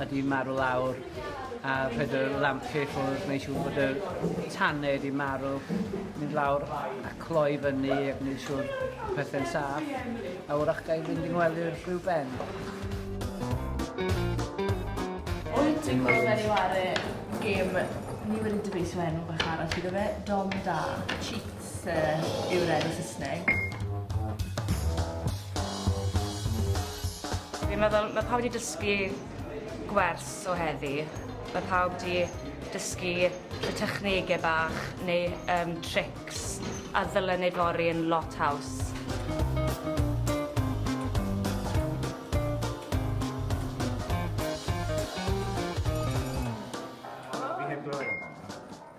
a di marw lawr a rhaid y lampie ffwrdd neu siŵr bod y tanne di marw mynd lawr a cloi fyny ac neu siŵr pethe'n saff a wrach gael fynd i ngwely'r rhyw ben Wyt ti'n gweld fel yw ar y gêm ni wedi dyfeisio enw bach arall iddo fe Dom Da Cheat Sir yw'r enw Saesneg. Fi'n meddwl, mae pawb wedi dysgu gwers o heddi. Mae pawb wedi dysgu y technegau bach neu um, tricks a ddylen ei fori yn lot haws.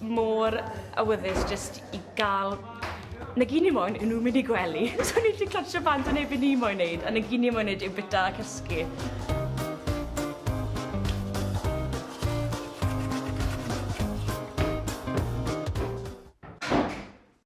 mor awyddus jyst i ga'l nagini moyn yw nw'n mynd i gwely. So o'n i jys cansio bant o neud be' ni moyn neud a nagini moyn neud yw bita a cysgu.